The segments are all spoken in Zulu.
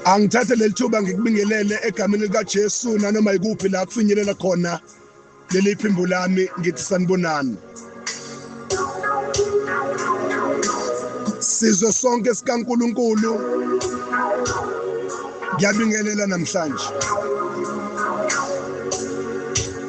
angithathe leli thuba ngikubingelele egameni likaJesu nanoma yikuphi la kufinyelela khona leli phimbo lami ngithi sanibonani sizwe sonke sikaNkuluNkulu ngiyabingelela namhlanje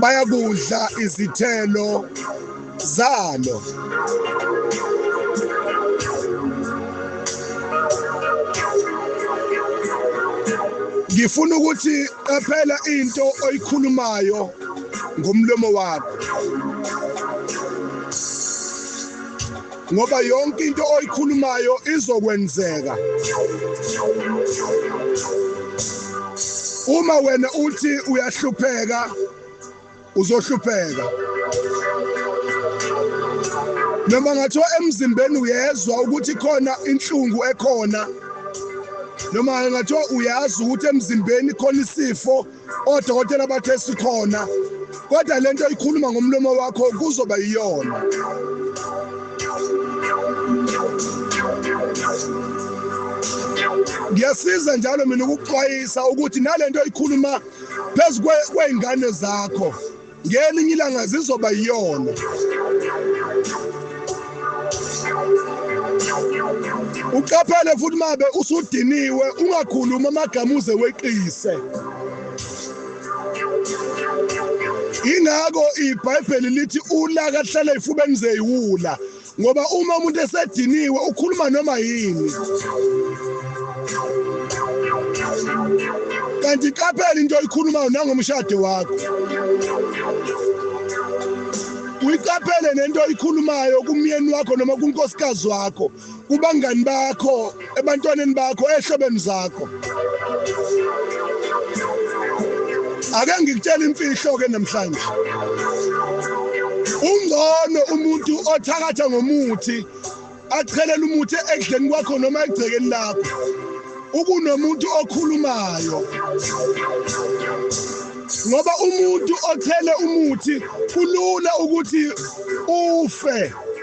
bayakudla izithelo zalo ngifuna ukuthi qaphela into oyikhulumayo ngomlomo wakho ngoba yonke into oyikhulumayo izokwenzeka uma wena uthi uyahlupheka uzohlupheka noma ngathiwa emzimbeni uyezwa ukuthi khona inhlungu ekhona noma ngathiwa uyazi ukuthi emzimbeni khona isifo odokotela bathe sikhona kodwa lento ikhuluma ngomlomo wakho kuzoba iyona ngiyasiza njalo mina ukuxwayisa ukuthi nalento ikhuluma phezu kweingane zakho ngelinye ilanga zizoba yiyona uqaphele futhi mabe usudiniwe ungakhulumi amagama uze weqise ingakho ibhayibheli lithi ulaka hlala ifubeni zeyiwula ngoba uma umuntu esediniwe ukhuluma noma yini kanti qaphela into oyikhulumayo nangomshado wakho uyiqaphele nento oyikhulumayo kumyeni wakho noma kunkosikazi wakho kubangani bakho ebantwaneni bakho ehlobeni zakho ake ngikutshela imfihlo ke namhlanje ungcono umuntu othakatha ngomuthi achelela umuthi ekudleni kwakho noma egcekeni lakho ukunomuntu okhulumayo ngoba umuntu othele umuthi kulula ukuthi ufe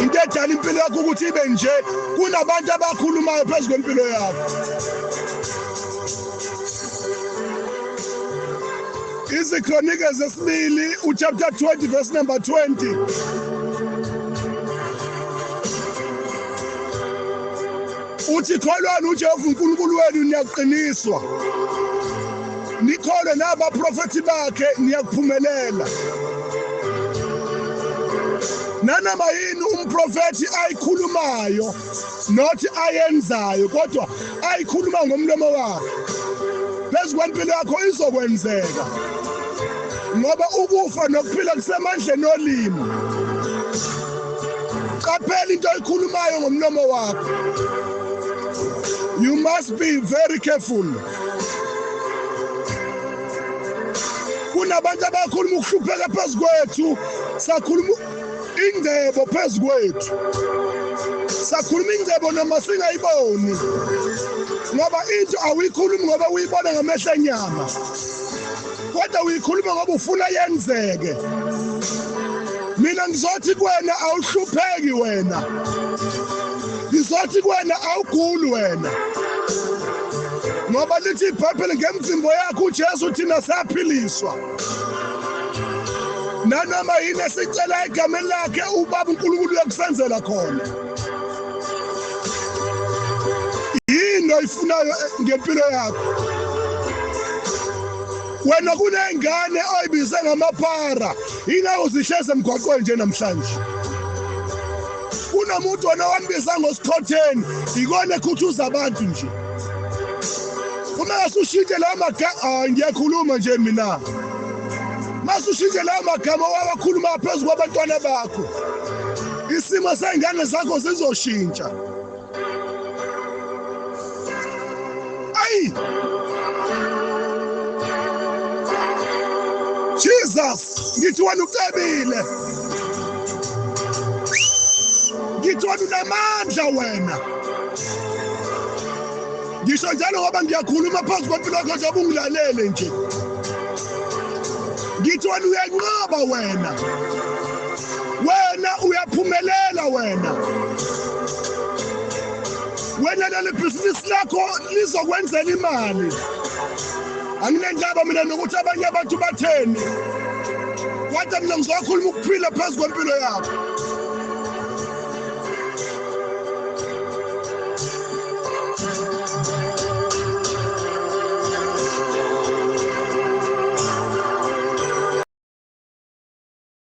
into edala impilo yakho ukuthi ibe nje kunabantu abakhulumayo phezu kwempilo yakho izikronike zesibili uchapter 20 verse number 20 Uthi kholwani uJehova uNkulunkulu wenu niyakuqiniswa. Nikholwe nabaprofethi bakhe niyakuphumelela. Nanoma yini umprofethi ayikhulumayo not ayenzayo kodwa ayikhuluma ngomlomo wakhe. Phezu kwempilo yakho izokwenzeka. Ngoba ukufa nokuphila kusemandleni olimi. qaphela into oyikhulumayo ngomlomo wakho you must be very careful kunabantu abakhuluma ukuhlupheka phezu kwethu sakhuluma ingcebo phezu kwethu sakhuluma ingcebo noma singayiboni ngoba into awuyikhulumi ngoba uyibona ngamehlo enyama kodwa uyikhuluma ngoba ufuna yenzeke mina ngizothi kuwena awuhlupheki wena ngizothi kuwena awuguli wena ngoba lithi ibhayibheli ngemzimbo yakho ujesu thina saphiliswa nanoma yini esicela egameni lakhe ubaba unkulunkulu uyokusenzela khona yini oyifunayo ngempilo yakho wena kunengane oyibize ngamaphara yingakho zihleze emgwaqweni nje namhlanje kunomuntu wena wambiza ngosikhotheni yikona ekhuthuza abantu nje uma ngasushinte lawo magama ah, ngiyakhuluma nje mina masushinte lawo magama wawakhuluma phezu kwabantwana bakho isimo sey'ngane zakho zizoshintsha ayi jesus ngithi wena ucebile ngithi wena unamandla wena ngisho njalo ngoba ngiyakhuluma phansi kwempilo yakho nje ubungilalele nje ngithi wena uyanqaba wena wena uyaphumelela wena wena leli bhizinisi lakho lizokwenzela imali anginendaba mina nokuthi abanye abantu batheni kodwa mina ngizokhuluma ukuphila phezu kwempilo yakho